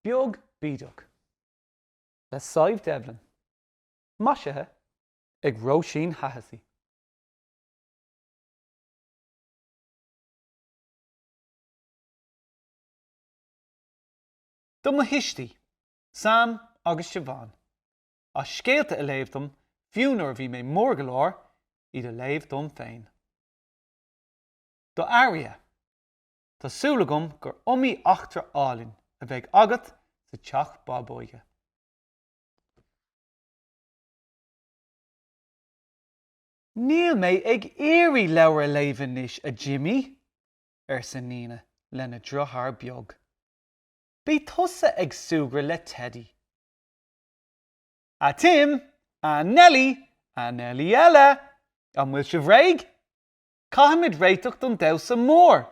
Beag Bídeach le Sadhbh Devlin, maisithe ag Róisín Hahessy. Do mo thuistí, Sam agus Siobhán. as scéalta a léamh dom, fiú nuair a bhí mé mór go leor iad a léamh dom féin. Do Aria, tá súil agam gur iomaí eachtra álainn a bheidh agat sa teach bábóige. Níl mé ag iarraidh leabhar a léamh anois, a Jimmy, arsa Nina lena driotháir beag. Bí tusa ag súgradh le Teddy. A Tim, a Nelly, a Nelly eile, an bhfuil sibh réidh? Caithfimid réiteach don damhsa mór.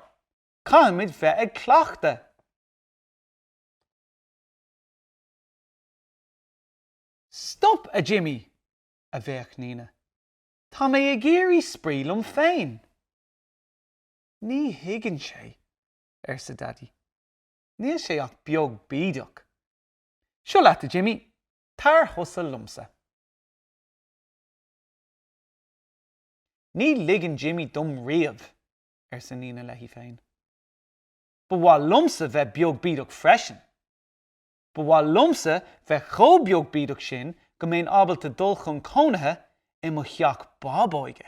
Caithfimid bheith ag cleachtadh. Stop, a Jimmy! a bhéic Nina. Tá mé ag iarraidh spraoi liom féin. Ní thuigeann sé, arsa Daidí. Níl sé ach beag bídeach. Seo leat, a Jimmy, tar thusa liomsa. Ní ligeann Jimmy dom riamh, arsa Nina léi féin. Ba mhaith liomsa bheith beag bídeach freisin. Ba mhaith liomsa bheith chomh beag bídeach sin go mbeinn ábalta dul chun cónaithe i mo theach bábóige.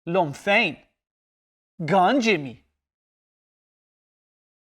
Liom féin. Gan Jimmy!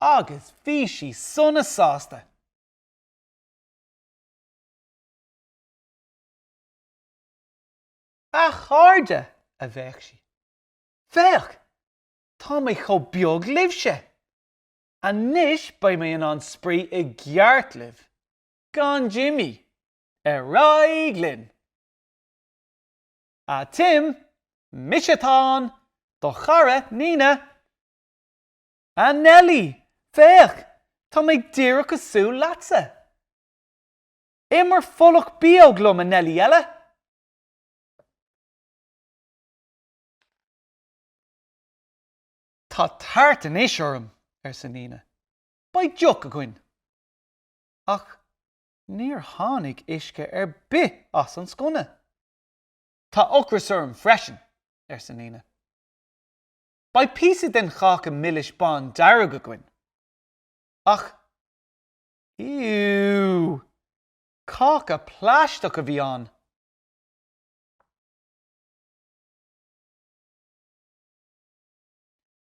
Agus bhí sí sona sásta. A chairde, a bhéic sí. Féach! Tá mé chomh beag libhse! Anois beidh mé in ann spraoi i gceart libh, gan Jimmy! Ar aghaidh linn! A Tim, mise atá ann, do chara, Nina! A Nellie! Féach! Tá mé díreach cosúil leatsa! Imir folach bíóg liom, a Nellie eile! Tá tart anois orm! arsa Nina. Beidh deoch againn! Ach níor tháinig uisce ar bith as an sconna. Tá ocras orm freisin! arsa Nina. Beidh píosa den cháca milis bán dearg againn. Ach, iú! Cáca plaisteach a bhí ann!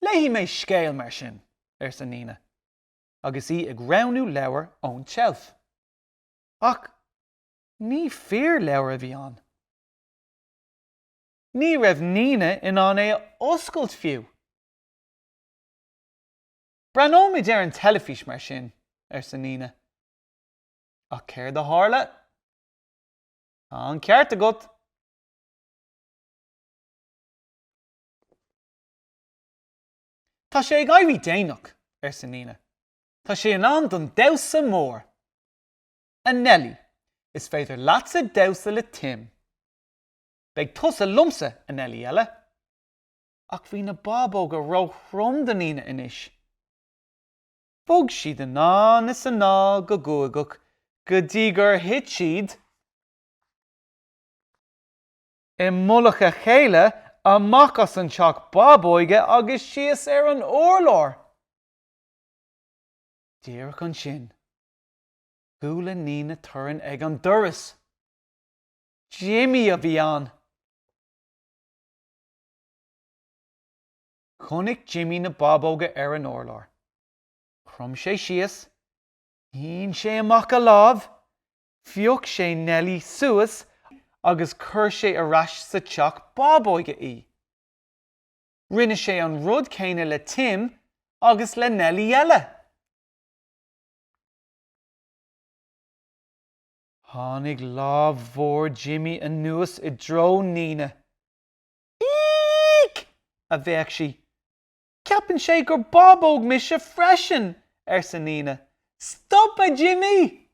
Léifidh mé scéal mar sin, arsa Nina, agus í ag roghnú leabhar ón tseilf. Ach ní fíorleabhar a bhí ann. Ní raibh Nina in ann é a oscailt fiú. 'Breathnóimid ar an teilifís, mar sin, arsa Nina. 'Ach céard a tharla? 'Tá an ceart agat. Tá sé ag éirí déanach, arsa Nina. 'Tá sé in am don damhsa mór. A Nellie, is féidir leatsa damhsa le Tim. Beidh tusa liomsa, a Nellie eile. Ach bhí na bábóga róthrom do Nina anois. Bhog siad anonn is anall go guagach go dtí gur thit siad i mullach a chéile, amach as an teach bábóige agus síos ar an urlár. Díreach ansin, chuala Nina torann ag an doras. Jimmy a bhí ann. Chonaic Jimmy na bábóga ar an urlár. Chrom sé síos, shín sé amach a lámh, phioc sé Nellie suas agus chuir sé ar ais sa teach bábóige í. Rinne sé an rud céanna le Tim agus le Nellie eile. Tháinig lámh mhór Jimmy anuas i dtreo Nina. Eek! a bhéic sí. Ceapann sé gur bábóg mise freisin! arsa Nina. Stop, a Jimmy!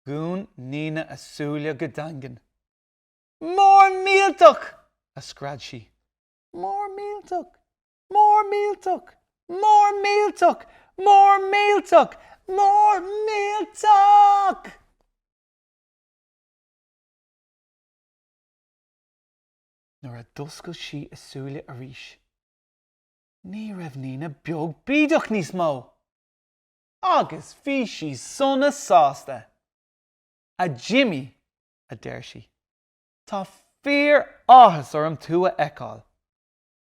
Dhún Nina a súile go daingean. Mór millteach! a scread sí. Mór millteach! Mór millteach! Mór millteach! Mór millteach! Mór millteach! Nuair a d'oscail sí a súile arís, ní raibh Nina beag bídeach níos mó! Agus bhí sí sona sásta! A Jimmy, a deir sí, tá fíoráthas orm tú a fheiceáil!